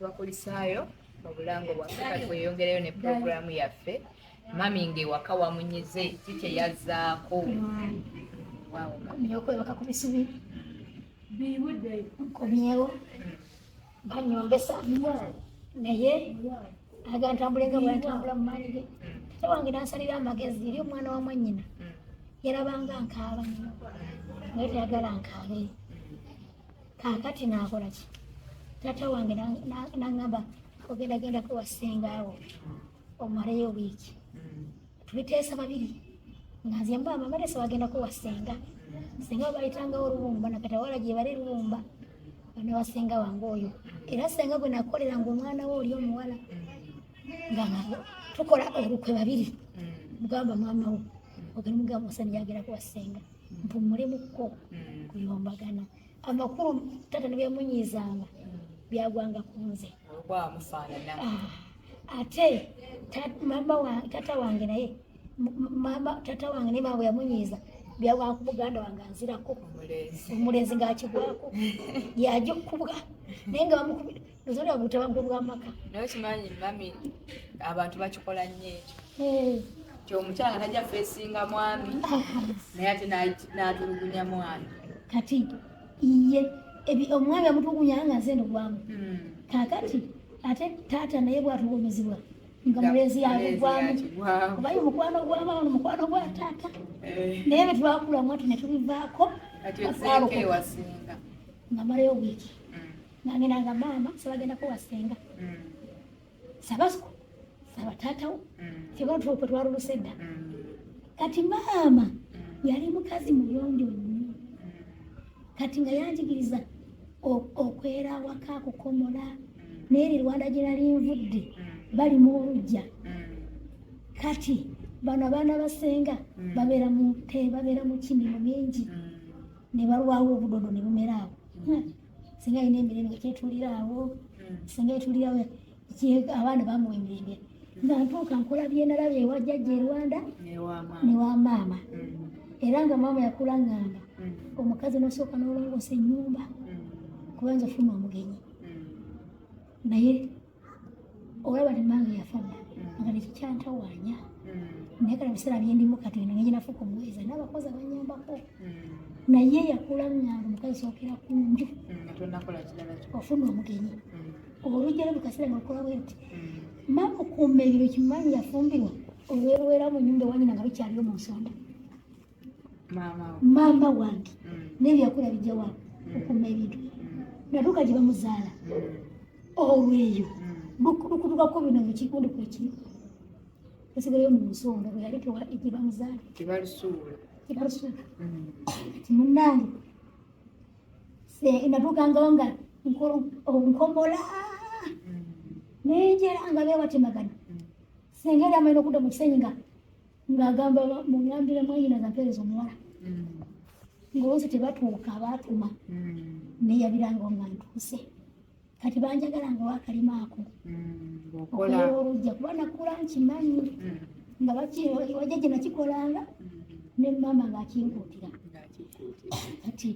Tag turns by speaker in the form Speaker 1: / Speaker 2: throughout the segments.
Speaker 1: Abakulisaayo mu bulango bwaffe kati weyongereyo ne pulogulaamu yaffe mami ng'ewaka wamunyize ki kye yazzaako
Speaker 2: okwebaka ku bisubi bibude nkomyewo banyombesa naye aga ntambule nga bwentambula mu maanyi ge tata wange nansalira amagezi eri omwana wa mwanyina yarabanga nkaaba nyo naye tayagala nkaabe kakati nakola ki tata wange nangamba ogenda gendako wasinga awo omaleyo wiiki mm. tubiteesa babiri nga nze mba amamalesa bagendako wasenga senga babayitangawo olubumba nakatawala gyebali lubumba bana wasenga wange oyo era senga gwe nakolera nga omwana we oli omuwala nga tukola olukwe babiri mugamba mm. mama wo ogani mugamba osani yagera kuwasenga mpumule mukko mm. kuyombagana amakulu tata nebemunyiizanga byagwanga ku nze ah, ate tata wange naye tata wange naye mawe yamunyiiza byagwanga ku muganda wange anzirako omulezi ngaakigwako yajokubwa naye nga bamukubira Nzuri obutaba bwo bwamaka. Nawe kimanyi mami
Speaker 1: abantu bakikola nnyo ekyo. Eh. Kyo omukyala najja fesinga mwami naye ate n'atulugunya mwami. Kati
Speaker 2: iye omwami amutulugunya nga nze ndogwamu. Hmm. Kakati ate taata naye bwatulumizibwa nga mulezi yagugwamu obaye omukwano gwamaama nomukwano gwa taata eh. naye betwakulamu ati netubivaako nga marayo wiiki nangenda nga maama sebagenda kuwa senga mm. sabasuku sabatatawo kyebatulokwe mm. twaluluse dda mm. kati maama yali mukazi muyonjo nnyo kati nga yanjigiriza okwera awaka kukomola neeri rwanda gye nali nvudde bali mu olujja kati bano abaana basenga babeera mu te babeera mu kimimu mingi ne balwawo obudodo ne bumera awo singa alina emirembe kyetulira awo hmm. singa etulirawo abaana bamuwa emirembe hmm. nga ntuuka nkola byenalaba ewa jjajja erwanda newa maama hmm. era nga maama yakula ngamba omukazi nosooka nolongoosa enyumba kubanza ofuna omugenyi naye olaba ne mange yafana mm. nga nekikyantawaanya mm. naye kale biseera byendimu kati eno neyinafuka omuweeza n'abakozi abanyambako mm. naye yakula ngange omukazi sookera ku nju ofuna omugenyi olujjalo bukasera nga lukola bwenti mama okuuma ebiro kimanyi yafumbirwa olwerwera mu nyumba ewanyina nga bikyaliyo mu nsonda maama wange mm. nebyakula bijja wa mm. okuma ebintu mm. natuuka gye bamuzaala olweyo bukutukako bino mukikundi kwekiri esigayo mu nsonga bwe yali gye bamuzaala tebalusuula kati munange natuukangawo nga nkomola nenjera nga bewatemagana senga era amaina okudda mu kisenyi nga ng'agamba muŋambire mwanyina gapeereza omuwala mm. ngaozi tebatuuka baatuma mm. neyabiranga nga ntuuse kati banjagala nga wakalima ako mm, okololujja kuba nakula nkimanyi nga wajja gye nakikolanga ne maama ng'akinkuutira kati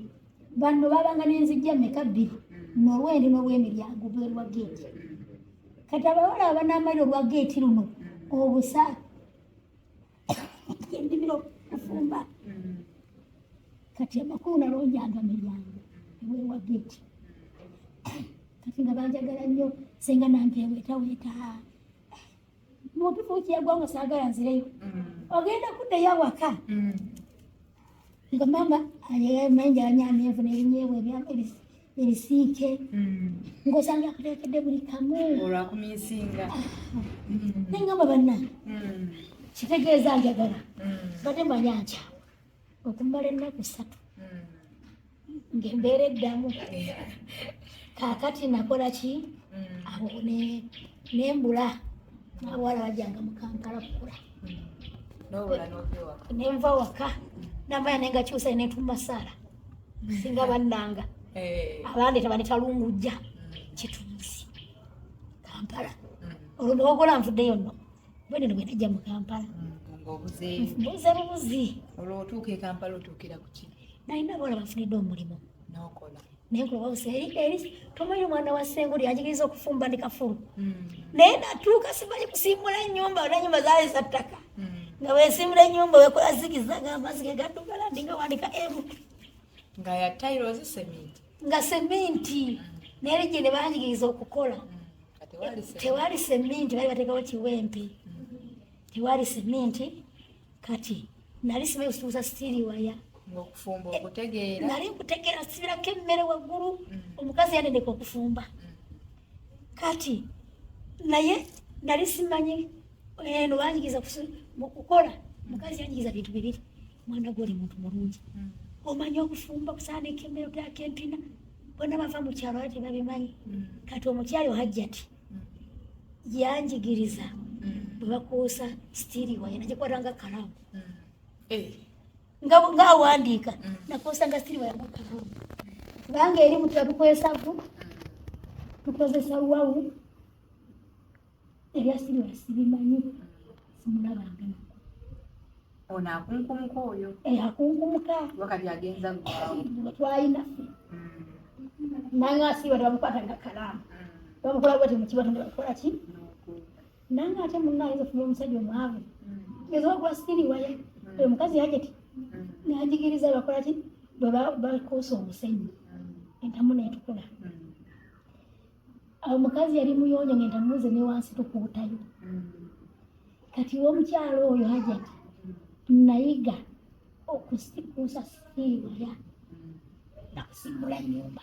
Speaker 2: banno babanga nenzijja meka bbiri nolwendi nolwemiryango bwerwa geeti kati abawala abanamali olwa geeti luno obusa endimiro kufumba kati amakulu nalonjanga miryango ewewa geeti kati nga banjagala nnyo senga nange wetaweta mutufu kiyagwanga sagala nzireyo ogenda kuddayo awaka nga mama ayemenjala nyamenvu nebinyebwa ebyamebisi ebisiike mm. ng'osanga akuteekedde buli kamu olwakuminsinga
Speaker 1: ah.
Speaker 2: mm. naye ngamba banna mm. kitegeeza njagala bade manya nkya okumala ennaku ssatu ng'embeera eddamu kaakati nakola ki awo nembula nabawala bajanga mu kampala kukula nenva waka namanya nengakyusa netumasaala singa bannanga eh. abandi tebanditalungujja kituusi kampala mm. olwo newagola nvuddeyo nno bweneno bwenajja mu kampala mm, buze bubuzi olwo otuuka e
Speaker 1: kampala otuukira kuki nalina abawala bafunidde
Speaker 2: omulimu nokola
Speaker 1: naye kulowooza
Speaker 2: eri eri tomanyi omwana wa senguli ajigiriza okufumba ndi kafulu mm. naye natuuka simanyi kusimbula nyumba nanyumba zaali za ttaka nga wesimula enyumba wekola zigizaga amazi gegaddugala ndi nga wandika emu nga ya
Speaker 1: tiles cement nga cement
Speaker 2: naye gye ne banjigiriza okukola mm, tewali cement bali bateekawo kiwempe mm-hmm. tewali cement kati nali simanyi kusibuza sitiiri waya okufumba eh,
Speaker 1: okutegeera nali nkutegeera
Speaker 2: sibirako emmere waggulu mm. omukazi yatendeka okufumba mm. kati naye nali simanyi eno eh, banyigiza kukola mukazi yanyigiza bintu bibiri mwana gwe oli muntu mulungi hmm. omanyi okufumba kusaana ekemero tyako empina bona bava mu kyalo ate babimanyi hmm. kati omukyalo hajjati hmm. yanjigiriza bwe bakuusa sitiiri waye nagikwatanga kalamu eh. nga nga awandiika mm. nakosanga siriwa yangu kuvumu kubanga eri mutu yatukolesaku mm. tukozesa wawu ebya siriwa sibimanyi simulabanga nako ono
Speaker 1: akunkumuka oyo eh, akunkumuka
Speaker 2: wakati agenza
Speaker 1: twayinafe
Speaker 2: mm. nange asiriwa tebamukwata nga kalaamu bamukola bwati mukibatonde bamukola ki nange ate munna ayinza ofuna omusajja omwavu eza ogula sitiri waya oyo mukazi yajeti najigiriza bakola ki bwebakuusa omusenyi entamu netukula omukazi yali muyonjo ngentamu ze newansi tukuutayo kati womukyalo oyo hajati nayiga okusikuusa sitiri waya nakusimbula nyumba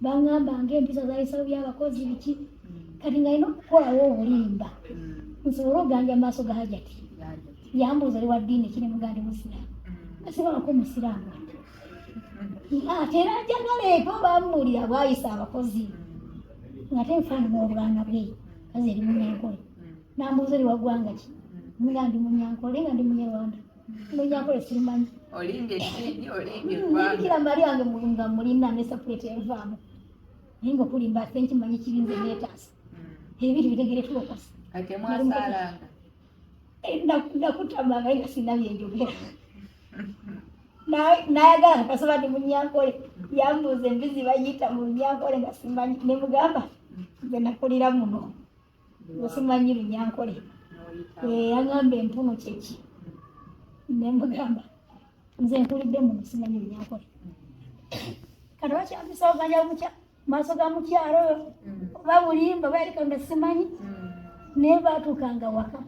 Speaker 2: bangamba nga empisa zayisalo byabakozi biki kati nga ina okukolawo obulimba nsobole oganja maaso ga hajati yambuuza oli wa ddiini kiri mugandi musiraamu asibalako musiraamu ate era njagala eko bamuwulira bwayisa abakozi ngate nfaanana obwana bwe kazi eri munyankole nambuuza oli waggwanga ki nga ndi munyankole nga ndi munyarwanda Munyakole simanyi. Olimbye kidi olimbye hmm, kwa. Kila mali wange mulunga mulina ne support evamo. Ningo kulimba thank you manyi kibinze letters. Hmm. Ebiri bitegere focus. Ate mwasala. Eh, Ndakutamanga ina sinabye njogera. nayagala kasaba ndi munyankole yambuuza embizi bayita mu lunyankole nga simanyi nemugamba nze nakulira muno wesimanyi lunyankole yeyagamba empuno kyeki nemugamba nze nkulidde muntu simanyi lunyankole kati bakyafisa oganya mukya maaso ga mukyalo oyo oba bulimba bayalika nga simanyi naye batuukanga waka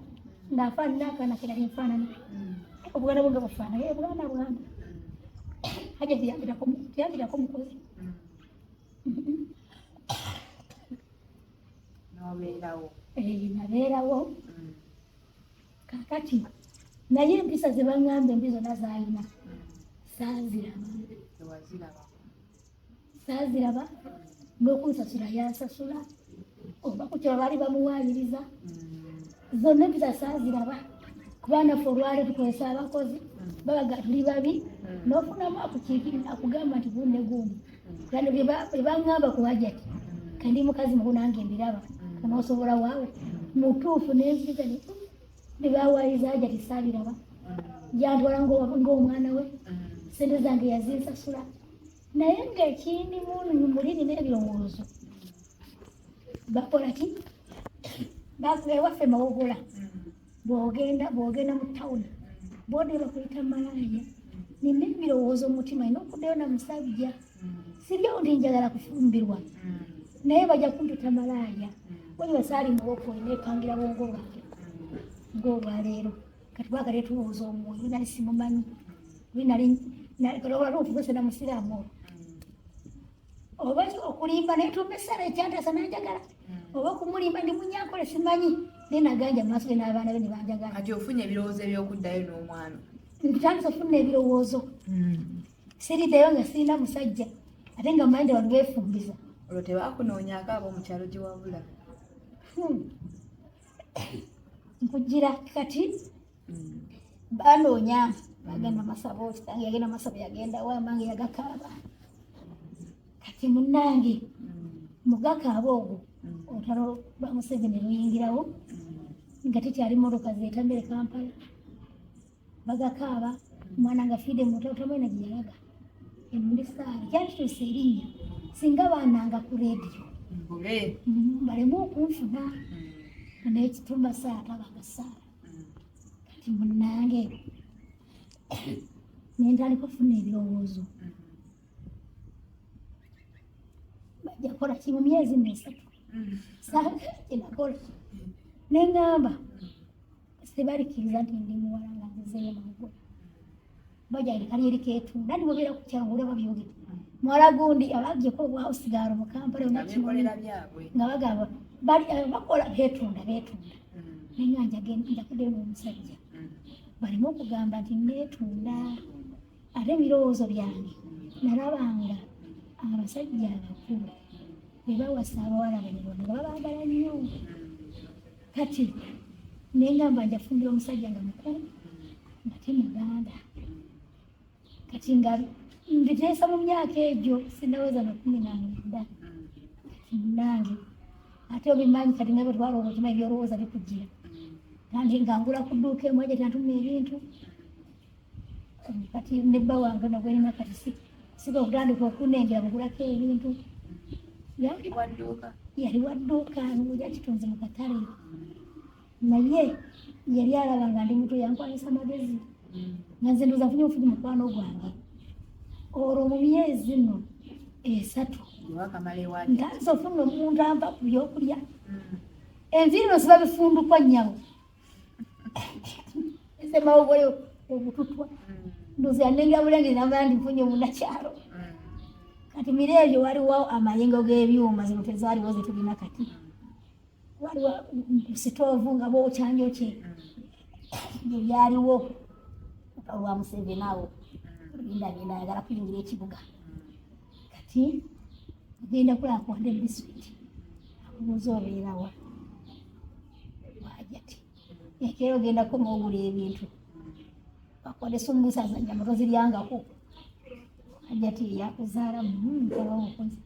Speaker 2: ngaafaanina akaana kerali nfaanana obwana bwe nga bufaanana ye bwana bwana haja tiyambirako mukozi n'obeerawo eh, nabeerawo mm. kakati naye empisa ze baŋŋamba embi zonna zaalina mm. saaziraba saaziraba n'okunsasula yansasula oba ku kyo baali bamuwaayiriza mm. zonna empisa saaziraba kubanga ffe olwale tukozesa abakozi babaga tuli babi n'ofunamu akukiikirira akugamba nti bunne gundi Bano bebangamba ku hajati kandi mukazi mukulu nange mbiraba onosobola waawo mutuufu nenziga bebawaayiza hajati sabiraba yantwala ng'omwana we sente zange yazinsasula naye ng'ekindi muli nina ebirowoozo bakola ki ewaffe mawogola bwogenda bwogenda mu tawuni boda bakuyita malaaya nina ebirowoozo mumutima ina okuddayo na musajja siryawo ndi njagala kufumbirwa naye bajja kumpita malaaya wali basaali muwoko nepangira bwongo bwange ng'olwaleero kati bwaga letubuuza omwoyo nali simumanyi nali olwalwo okugesa na musiraamu oba okulimba netumba esala ekyantasa nanjagala hmm. oba okumulimba ndi munyankole simanyi naye naganja maaso ge n'abaana be nebanjagala kati ofunye ebirowoozo
Speaker 1: ebyokuddayo n'omwana ntandisa ofuna
Speaker 2: ebirowoozo hmm. siriddayo nga sirina musajja ate nga mande wali wefumbiza olwo tebakunoonyaako
Speaker 1: ab'omukyalo gye wabula hmm.
Speaker 2: nkujira kati mm. banoonya bagenda masabo kitange yagenda masabo yagenda wamange yagakaaba kati munange mugakaaba ogwo olutalo lwa museveni luyingirawo nga tekyali motoka zetambere kampala bagakaaba omwana nga fiide mutatamwena gyeyalaga emundisaala kyakituusa erinnya singa baananga ku rediyo mm, balemu okunfuna mm. naye kitumba saala tabanga saala kati munange nentandika okufuna ebirowoozo bajja kola ki mu myezi nesatu saakinakola nengamba sibalikiriza nti ndi muwala nga nzizeyo mugula bajali kanyeri ketu nani bobera ku kyangu olaba byogera muwala gundi abagye ko bwa osigaro mu kampala onakikolera byabwe nga bagamba bali eh, bakola betunda betunda mm. nenga njagenda njakude mu musajja mm. balimu okugamba nti netunda ate ebirowoozo byange nalabanga abasajja abakulu bebawasa abawala banyarwanda nga babagala nnyo kati nengamba njafumbira omusajja nga mukulu ngate muganda kati nga mbiteesa mu myaka egyo sinaweza nakumi namwenda kati munange ate obimanyi kati nabe twalooba okimanyi byolowooza bikujira kandi ngangula ku dduuka emu aja tantuma ebintu kati ne bba wange nogwelina kati siga okutandika okunengera mugulako ebintu yali wadduuka nguja kitunzi mu katale naye yali alaba nga ndi muto yankwanyisa magezi mm. nanze ndoza funye ofuji mukwano gwange olwo mu myezi no esatu ntanze ofunna omuntu anva ku byokulya mm. enviiri no siba bifundukwa nyabo esemawo bole obututwa ndozi anenga bulenge nabandi mfunye munakyalo kati mire ebyo waliwo amayengo g'ebyuma zino tezaaliwo zetulina kati waliwo sitoovu nga bokyanjo kye byo byaliwo olwa museveni awo ndagenda ayagala kuyingira ekibuga kati agenda kulakuwade disitulikiti amubuuza obeerawa hajati ekero genda koma ogula ebintu bakole sumbusa zanyama toziryangako hajati yakuzaala mukaba mukozi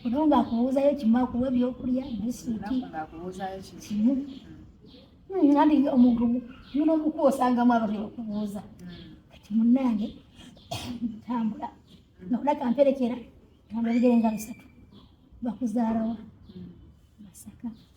Speaker 2: ono nga akubuuzayo kimu akuwa ebyokulya bisiti kimu nandi hmm, omuntu muno omuku osangamu abantu bakubuuza kati munange tambula nokola kamperekera tambula ebigere nga bisatu bakuzaalawa masaka mm.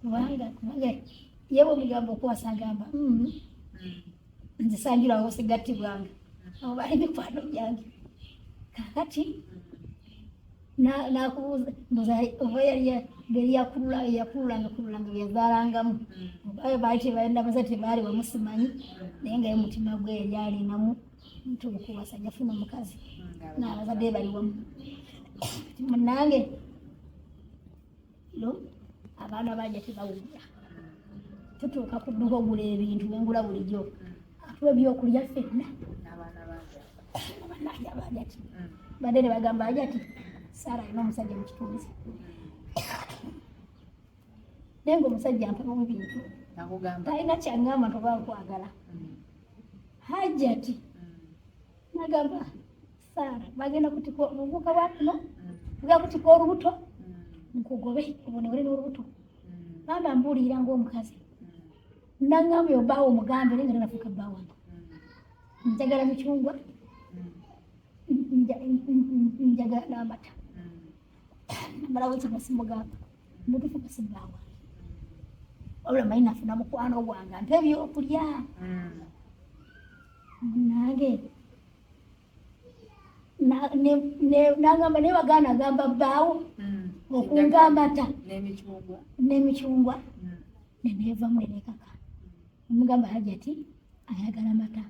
Speaker 2: kubanga kubanga yewe omugambo okuwasa agamba mm-hmm. nze sanjula awo sigattibwanga abo bali mikwano gyange kakati nakubuuza mbuza oba yali beri yakulula yakulula ngakulula nga byezalangamu obayo baali tebalina baza tebaali wamusimanyi naye nga ye mutima gwe yali alinamu ntuuku wasajja funa omukazi naabazadde bali wamu munange no abaana banja tebawugula tutuuka ku dduka ogula ebintu wengula bulijjo atuwa ebyokulya fenna abananja bajati badde ne bagamba ajati saara alina omusajja mu kitunzi naye nga omusajja mpabamu bintu talina kyangamba ntoba nkwagala hajati nagamba saara bagenda kutika obuvuka bwa kuno bwa kutika olubuto nkugobe obonewere n'olubuto maama mbuulirira ng'omukazi nangamba oyo bbaawo omugambe naye nga nanafuuka bbaa wange njagala micungwa njagala n'amata namalawo ekigwa simugamba mutufu kasi bbaa wange wabula manyi nafuna mukwano gwange mpa ebyokulya nange nagamba naye wagaana agamba bbaawo hmm. okunga amata n'emicungwa hmm. neneevamu enekaka omugamba hajati ayagala mata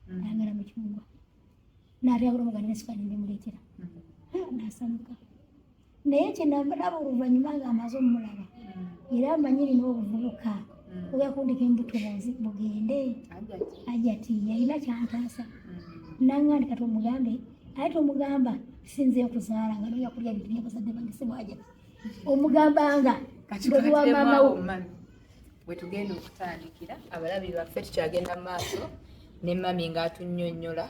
Speaker 2: hmm. ayagala micungwa nabyagula omugana nesukali nemuleetera nasamuka naye kyenambalaba oluvannyuma nga amaze omulaba era amanyi lina obuvubuka mm. ogakundika embuto bunzi bugende ajati yalina kyantaasa mm. nangandi kati omugambe aye tomugamba sinze okuzaala nga noya kulya bintu byabazadde bange sibwajati omugambanga bwebi wa maama wo
Speaker 1: wetugenda okutandikira abalabi baffe tukyagenda mu maaso ne mami ng'atunyonyola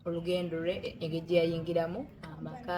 Speaker 1: olugendo lwe engeri gye yayingiramu amaka